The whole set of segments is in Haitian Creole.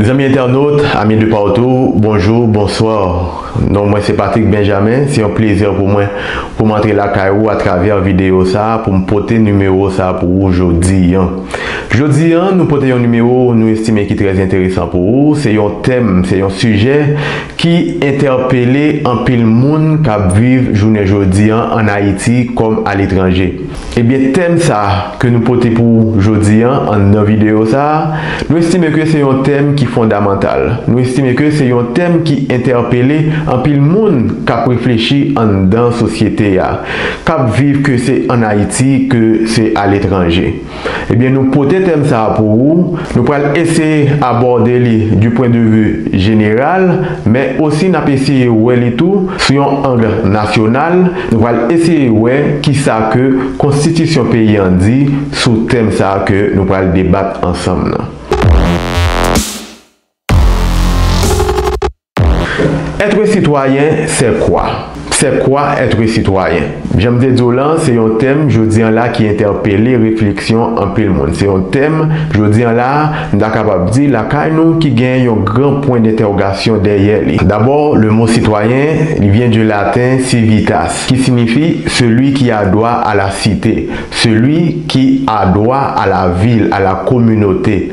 Zanmi entènot, amis de partout, bonjour, bonsoir. Non mwen se Patrick Benjamin, se yon plezè pou mwen pou m antre lakay ou atravè videyo sa a pou m pote nimewo sa a pou ou jodi an. Jodi an, nou pote yon nimewo nou estime ki trè enteresan pou ou, se yon tèm, se yon sijè ki entèpele anpil moun k ap viv jounen jodi an ann Ayiti kòm aletranje. Ebyen tèm sa ke nou pote pou ou jodi an nan videyo sa, nou estime ke se yon tèm ki fondamantal, nou estime ke se yon tèm ki entèpele anpil moun kap reflechi anndan sosyete a, kap viv ke se an Ayiti ke se aletranje. Ebyen nou pote tèm sa pou ou. Nou pral eseye abòde li du pwen de vu jeneral, men osi n ap eseye wè li tou sou yon ang nasyonal, nou pral eseye wè ki sa ke konstitisyon peyi an di sou tèm sa ke nou pral debat ansanm nan. Être citoyen c'est quoi? C'est quoi être citoyen? Jan m te di w lan, se yon tèm jodi an la ki entèpele refleksyon anpil moun. Se yon tèm, jodi an la, m ta kapab di, lakay nou ki gen yon gran pwen dentèwogasyon dèyè li. Dabò, le mot citoyen, li vyen du laten civitas, ki sinifi celui qui a droit à la cité, celui qui a droit à la ville, à la communauté.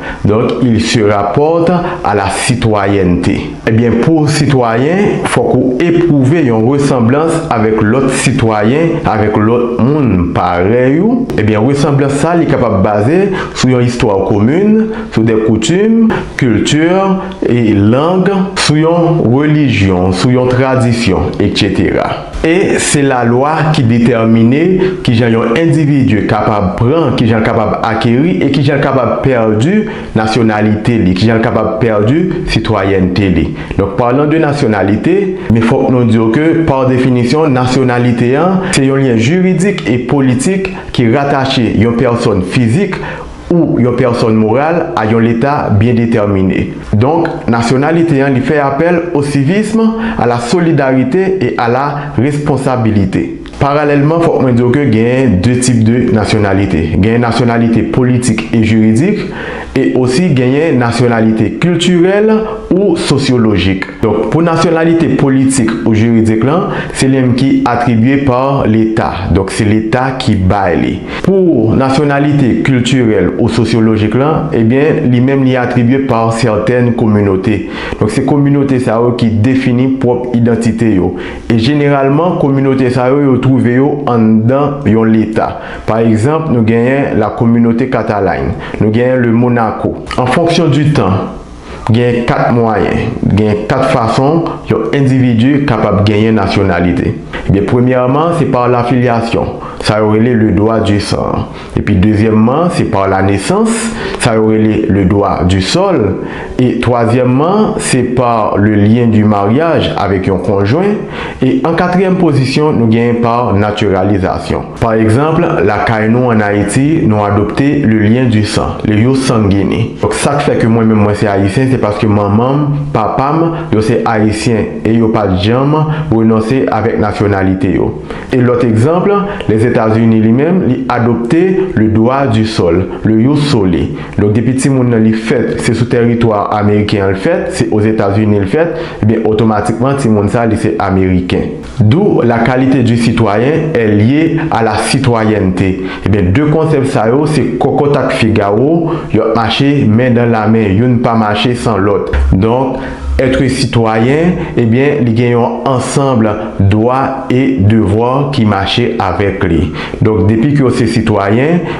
Donc il se rapporte à la citoyenneté. Ebyen pou w sitwayen, fòk ou epwouve yon resanblans avèk lòt sitwayen, avèk lòt moun parèy ou, ebyen resanblans sa li kapab baze sou yon istwa komin, sou des coutumes, cultures, et langues, sou yon relijyon, sou yon tradisyon, etc. E se lalwa ki detèmine ki jan yon endividi kapab pran, ki jan l kapab akeri e ki jan l kapab pèdi nasyonalite li, ki jan l kapab pèdi sitwayènte li. Donk, parlons de nationalité, men fòk nou di w ke, par définition, nasyonalite an se yon lyen jiridik e politik ki ratache yon pèsòn fizik, ou yon pèsonn moral a yon Leta byen detèmine. Donk, nasyonalite an li fè apèl au civisme, à la solidarité et à la responsabilité. Paralèlman, fòk mwen di w ke gen de tip de nasyonalite. Gen nasyonalite politik e jiridik e osi genyen nasyonalite kiltirèl ou sosyolojik. Donk, pou nasyonalite politik ou jiridik lan, se li menm ki atribye par Leta. Donk, se Leta ki bay li. Pou nasyonalite kiltirèl ou sosyolojik lan, ebyen, li menm li atribye pa sètèn kominote. Donk se kominote sa yo ki defini pwòp idantite yo. E jeneralman, kominote sa yo, yo twouve yo anndan yon leta. Pa egzanp, nou genyen la Communauté Catalagne. Nou genyen le Monaco. An fonksyon di tan, Gen kat mwayen, gen kat fason yon endividi kapab genyen nasyonalite. Ebyen premyèman se par la filiation, sa yo rele le droit du sang an. Epi dezyèmman se par la naissance, sa yo rele le droit du sol. E twazyèmman se par le lien du mariage avèk yon konjwen. E an katriyèm pozisyon nou genyen par naturalisation. Pa egzanp, lakay nou an Ayiti, nou adopte le lien du sang, le ius sanguini. Donk sa k fè ke mwen menm mwen se Ayisyen se paske manman m, papa m, yo se Ayisyen e yo pa t janm renonse avèk nasyonalite yo. E lòt egzanp, Lèzetazini li menm, li adopte le droit du sol, le ius soli. Donk depi timoun nan li fèt, se sou tèritwa ameriken an l fèt, se Ozetazini l fèt, ebyen otomatikman timoun sa li se ameriken. D'où la qualité du citoyen est liée à la citoyenneté. Ebyen 2 konsèp sa yo se kòkòt ak figawo, yo ap mache men dan la men, youn pa mache san lòt. Donk, être citoyen, ebyen li gen yon ansanble dwa e devwa ki mache avèk li. Donk depi ke w se sitwayen,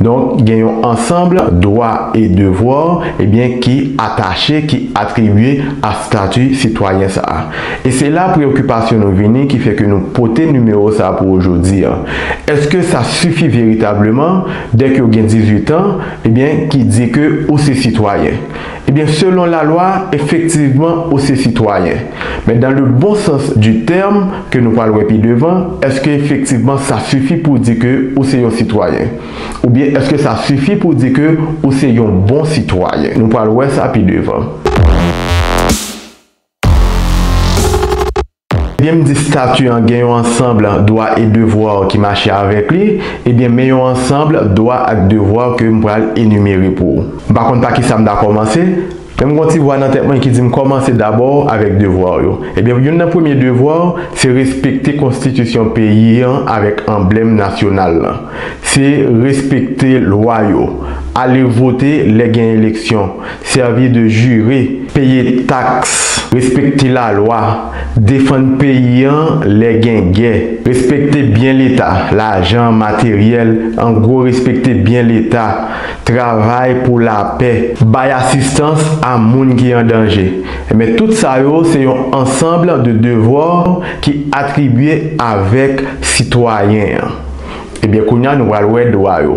Donk, gen yon ansanb dwa e devwa, ebyen, ki atache, ki atribye a stati sitwayen sa a. E se la preyokipasyon nou vini ki fè ke nou pote nimewo sa a pou ou jodi a. Eske sa sifi veritableman, dèke ou gen 18 an, ebyen, ki di ke ou se sitwayen? Ebyen selon la lwa efektivman ou se sitwayen. Men dan le bon sans di tèm ke nou pral wè pi devan, eske efektivman sa sifi pou di ke ou se yon sitwayen? Oubyen eske sa sifi pou di ke ou se yon bon sitwayen? Nou pral wè sa pi devan. Ebyen m di stati an gen yon ansanb dwa e devwa ki mache avèk li, ebyen men yon ansanb dwa ak devwa ke m pral enimere pou ou. M pa konn pa kisa m ta kòmanse, men m gen yon ti vwa nan tèt mwen ki di m kòmanse dabò avèk devwa w yo. Ebyen youn nan premye devwa w se respekte konstitisyon peyi an avèk anblèm nasyonal lan. Se respekte lwa yo, ale vote lè gen eleksyon. Sèvi de jire, peye taks, respekte lalwa, defann peyi an lè gen gè, respekte byen leta, lajan, materyèl, an gwo respekte byen leta, travay pou lapè, bay asistans a moun ki an danje, enben tout sa yo se yon ansanbl de devwa ki atribye avèk sitwayen an. Ebyen kounya nou pral wè dwa yo.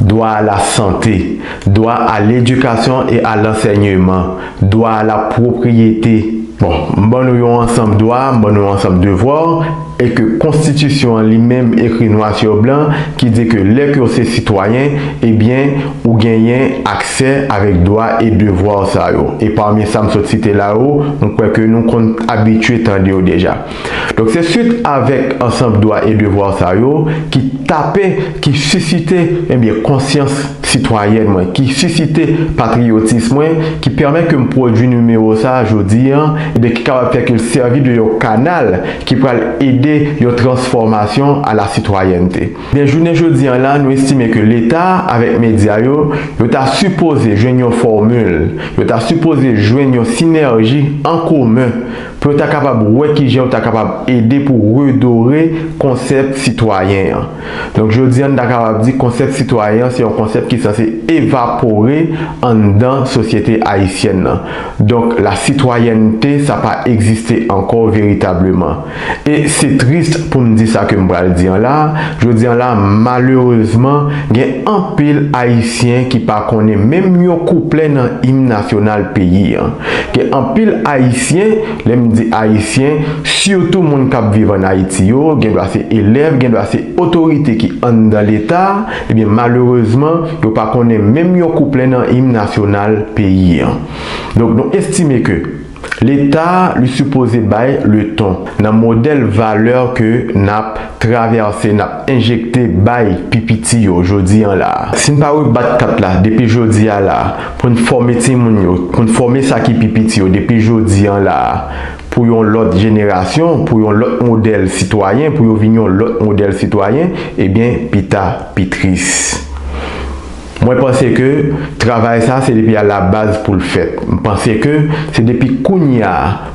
dwa a la sante, dwa a ledikasyon e a lansènyeman, dwa a la pwopriyete. Bon, m ban nou yon ansanm dwa, m ban nou yon ansanm devwa, e ke konstitisyon an li menm ekri nwa sur blan ki di ke lè ke w se sitwayen, e byen, ou genyen aksè avèk dwa e devwa w sa yo. E pami sa m sot site la yo, m kwè ke nou konn abitye tande yo deja. Donk se swit avèk ansanb dwa e devwa sa yo ki tape, ki sisite enbyen konsyans sitwayèn mwen, ki sisite patriyotis mwen, ki pèmèt ke m pwodui nimewo sa a jodi an, enbyen ki kapab fè ke l sèvi de yon kanal ki pral ede yon transfòmasyon a la sitwayènte. Enbyen jounen jodi an la, nou estime ke Leta avèk medya yo, yo ta sipoze jwenn yon fòmil, yo ta sipoze jwenn yon sinèji an komen, pou yo ta kapab wè ki jan yo ta kapab ede pou redore konsèp sitwayen an. Donk jodi an n ta kapab di konsèp sitwayen an se yon konsèp ki sanse evapore anndan sosyete ayisyèn nan. Donk lasitwayènte sa pa egziste ankò veritableman. E se tris pou m di sa ke m pral di an la, jodi an la malerezman gen anpil ayisyen ki pa konnen menm yon kouplè nan im nasyonal peyi an. Gen anpil Ayisyen, lè m di Ayisyen, sitou moun k ap viv ann Ayiti yo, gen dwa se elèv, gen dwa se otorite ki anndan Leta, ebyen malerezman, yo pa konnen menm yon kouplen nan Im Nasyonal peyi an. Donk nou estime ke Leta li sipoze bay leton nan modèl valè ke n ap. Traverse nap enjekte bay pi piti yo jodi an la. Sin pa rebat kat la depi jodi a la poun fòme timoun yo, poun fòme sa ki pi piti yo depi jodi an la pou yon lòt jenerasyon, pou yon lòt modèl sitwayen, pou yo vin yon lòt modèl sitwayen, ebyen pita pi tris. Mwen panse ke travay sa se depi a la baz pou l fèt. M panse ke se depi kounya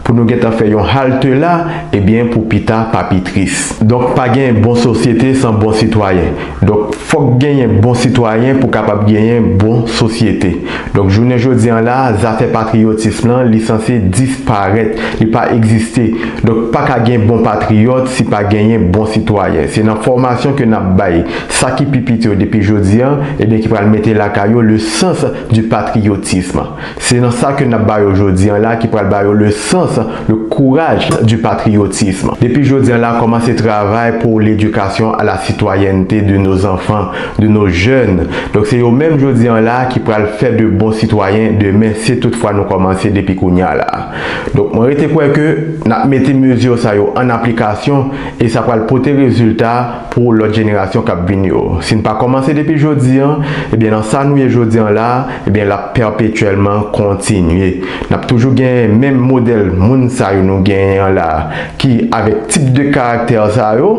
pou nou gentan fè yon halte la ebyen pou pita pa pi tris. Donk pa gen bon sosyete san bon sitwayen. Donk fòk genyen bon sitwayen pou kapab genyen bon sosyete. Donk jounen jodi an la zafè patriyotism lan li sanse disparèt, li pa egziste. Donk pa ka gen bon patriyòt si pa genyen bon sitwayen. Se nan fòmasyon ke n ap bay. sa ki pi piti yo depi jodi an, ebyen ki pral mete lakay yo le sens du patriotisme. Se nan sa ke nap ba yo jodi an la ki pral ba yo le sens, le courage du patriotisme. Depi jodi an la komanse travay pou l'éducation à la citoyenneté de nos enfants, de nos jeunes. Donk se yo menm jodi an la ki pral fè de bon sitwayen demen si tout fwa nou komanse depi kounye a la. Donk mwen rete kwè ke nap mete mesure sa yo an aplikasyon e sa pral pote rezilta, pou lòt jenerasyon kap vini yo. Si n pa kòmanse depi jodi an, ebyen nan sa nou ye jodi an la a, ebyen l ap pèpetyèlman kontinye. N ap toujou genyen menm modèl moun sa yo nou genyen an la a, ki avèk tip de karaktè sa yo,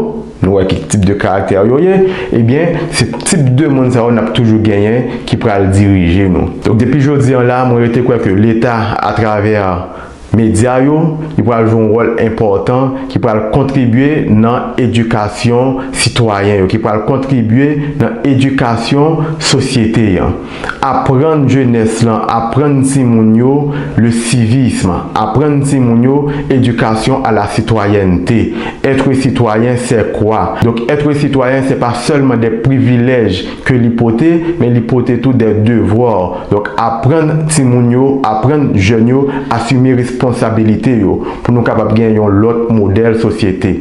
nou wè ki tip de karaktè yo ye, ebyen se tip de moun sa yo n ap toujou genyen ki pral dirije nou. Donk depi jodi an la a, mwen rete kwè ke Leta atravè. Medya yo, yo pral jwe yon wòl enpòtan ki pral kontribye nan edikasyon sitwayen yo, ki pral kontribye nan edikasyon sosyete an. Aprann jenès lan, aprann timoun yo le civisme, aprann timoun yo éducation à la citoyenneté, être citoyen c'est quoi? Donk être citoyen se pa sèlman de privilèj ke li pote, men li pote tou des devoirs, donk aprann timoun yo, aprann jèn yo asime responsabilite yo, pou nou kapab gen yon lòt modèl sosyete.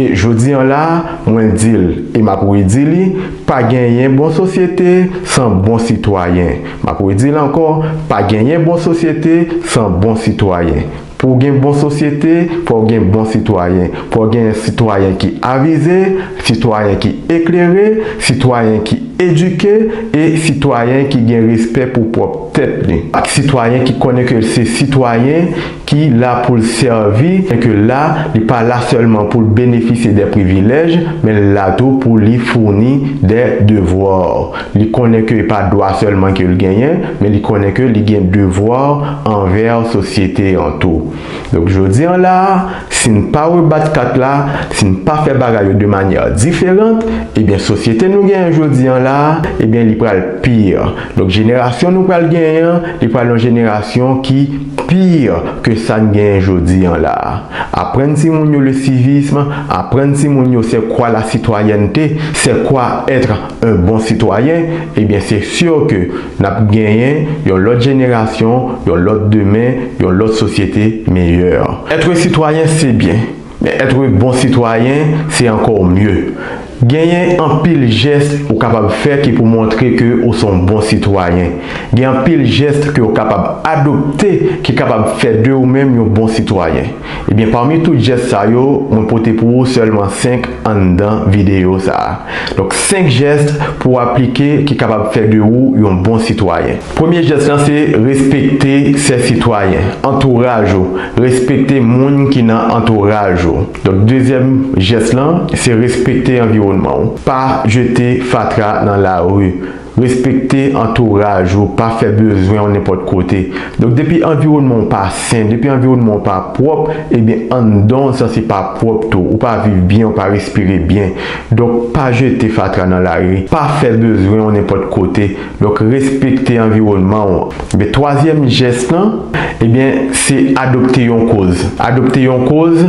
E jodi an la, mwen di l, e m ap redi li, pa genyen bon sosyete san bon sitwayen. M ap redi l ankò, pa genyen bon sosyete san bon sitwayen. Pou w gen bon sosyete, fò w gen bon sitwayen. Fò w gen sitwayen ki avize, sitwayen ki eklere, sitwayen ki edike e sitwayen ki gen respè pou pwòp tèt li. Sitwayen ki konnen ke l se sitwayen ki la pou l sèvi e ke la li pa la sèlman pou l benefisye de privilèj, men l la tou pou li founi de devwa. Li konnen ke e pa dwa sèlman ke l genyen, men li konnen ke li gen devwa anvè sosyete an tou. Donk jodi an la a, si n pa rebat kat la, si n pa fè bagay yo de manyè diferant, ebyen sosyete nou genyen jodi an la a, ebyen li pral pi. Donk jenerasyon nou pral genyen an, li pral yon jenerasyon ki pi ke sa n genyen jodi an la a. Aprann timoun yo le civisme, aprann timoun yo se kwa la sitwayènte, se kwa être yon bon sitwayen, ebyen se sure ke nap genyen yon lòt jenerasyon, yon lòt demen, yon lòt sosyete meyè. Être sitwayen se byen, men être bon sitwayen se ankor mye. Genyen anpil jès ou kapab fè ki pou montre ke ou son bon sitwayen. Gen anpil jès ke ou kapab adopte ki kapab fè de ou menm yon bon sitwayen. Ebyen pami tout jès sa yo mwen pote pou ou sèlman 5 anndan videyo sa. Donk 5 jès pou aplike ki kapab fè de ou yon bon sitwayen. Premye jès lan se respekte sè sitwayen, antouraj ou, respekte moun ki nan antouraj ou. Donk dezyèm jès lan se respekte anviwònman ou, pa jete fatra nan lari. Respekte antouraj ou, pa fè bezwen w nenpòt kote. Donk depi anviwònman w pa sen, depi anviwònman w pa pwòp, ebyen anndan w san se pa pwòp tou. Ou pa viv byen, ou pa respire byen. Donk pa jete fatra nan lari, pa fè bezwen w nenpòt kote. Donk respekte anviwònman w. Ebyen twazyèm jès lan, ebyen se adopte yon koz. Adopte yon koz,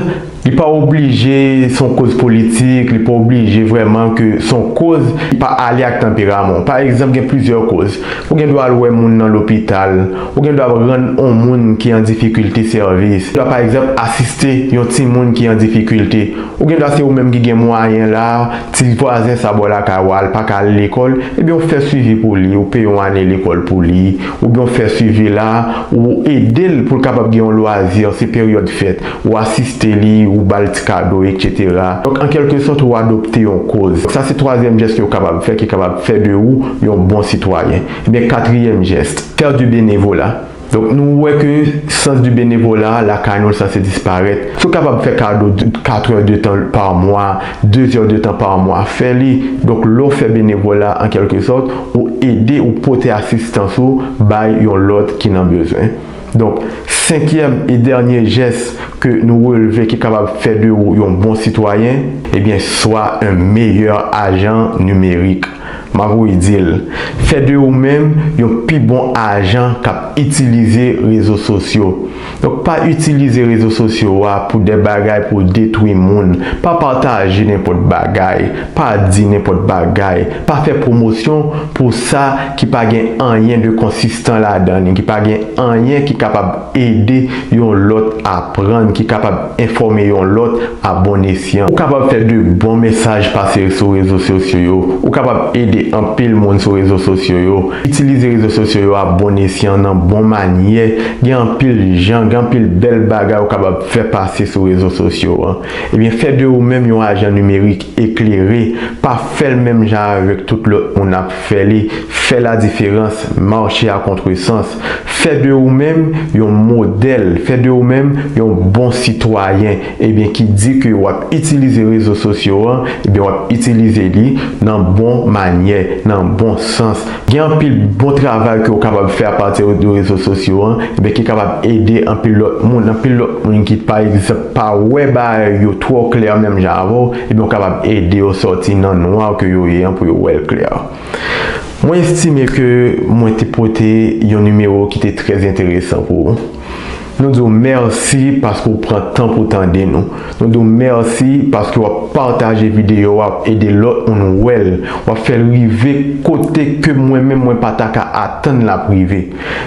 Li pa oblije se yon koz politik, li pa oblije vrèman ke se yon koz ki pa ale ak tanperaman w. Pa egzanp, gen plizyè koz. Ou gen dwa al wè moun nan lopital, ou gen dwa rann yon moun ki an difikilte sèvis, ou gen dwa pa egzanp asiste yon timoun ki an difikilte, ou gen dwa se ou menm ki gen mwayen la, ti vwazen sa bò lakay ou a li pa ka al lekòl, ebyen ou fè swivi pou li, ou peye yon ane lekòl pou li, oubyen ou fè swivi la, ou ede l pou l kapab gen yon lwazi, se peryòd fèt. ou asiste li, ou ba l ti kado, eksetera. Donk, an kèlke sòt, ou adopte yon kòz. Donk, sa se twazyèm jès ke ou kapab fè ki kapab fè de ou yon bon sitwayen. Ebyen, katriyèm jès. Faire du bénévolat. Donk, nou wè ke sans du bénévolat a, lakay nou, l sanse disparèt. Si w kapab fè kado katrè de tan par mwa, dezè de tan par mwa, fè li. Donk, lè w fè benevola, an kèlke sòt, ou ede, ou pote asistans ou bay yon lòt ki nan bezwen. Donk, senkyèm e dènye jès ke nou relve ki kapab fè de ou yon bon sitwayen, ebyen swa un meilleur agent numérique. M ap ri di l, fè de ou menm yon pi bon ajan k ap itilize rezo sosyo. Donk, pa itilize rezo sosyo a pou de bagay pou w detwi moun, pa pataje nenpòt bagay, Pa di nenpòt bagay, pa fè pwomosyon pou sa ki pa gen anyen de konsistan ladan li, ki pa gen anyen ki kapab ede yon lòt aprann, ki kapab enfòme yon lòt a bon esyan. Ou kapab fè de bon mesaj pase sou rezo sosyo yo, ou kapab ede anpil moun sou rezo sosyo yo. Itilize rezo sosyo yo a bon esyan, nan bon manyè, gen anpil jan, gen anpil bèl bagay ou kapab fè pase sou rezo sosyo. Ebyen fè de ou menm yon ajan nimerik eklere, pa fèl menm jan avèk tout lòt moun ap fè li, fè la diferans, mache a kontresans, fè de ou menm yon modèl, fè de ou menm yon bon sitwayen, ebyen ki di ke wap itilize rezo sosyo an, ebyen wap itilize li nan bon manyè, nan bon sans. Gen anpil bon travay ke ou kapab fè apati de rezo sosyo an ebyen ki kapab ede anpil lòt moun, anpil lòt moun ki pa egzanp pa wè bagay yo twò klè menm jan avèw ebyen ou kapab ede yo sòti nan nwa ke yo ye an pou yo wèl klè. Mwen estime ke mwen te pote yon nimewo ki te trè enteresan pou ou. Nou di w mèsi paske w pran tan pou w tande nou. Nou di w mèsi paske w ap pataje videyo a, w ap ede lòt moun wè l, w ap fè l rive kote ke mwen menm mwen pa ta ka atann l ap rive.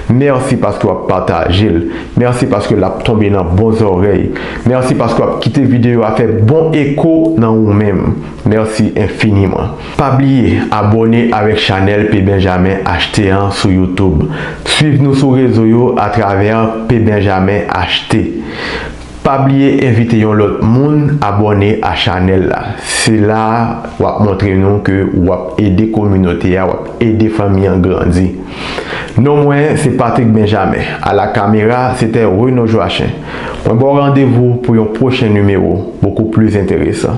Mèsi paske w ap pataje l. Mèsi paske l ap tonbe nan bon zòrèy. Mèsi paske w ap kite videyo a fè bon eko nan ou menm. Mèsi enfiniman. Pa bliye abone avèk chanèl P Benjamin HT an sou youtube. Swiv nou sou rezo yo atravè P Benjamin HT. Pa bliye envite yon lòt moun abone a chanèl la. Se la wap montre nou ke wap ede kominote a, wap ede fanmi an grandi. Non mwen se Patrick Benjamin. A la kamera sete Renaud Joachim. Mwen baw randevou pou yon pwochen nimewo bokou plis enteresan.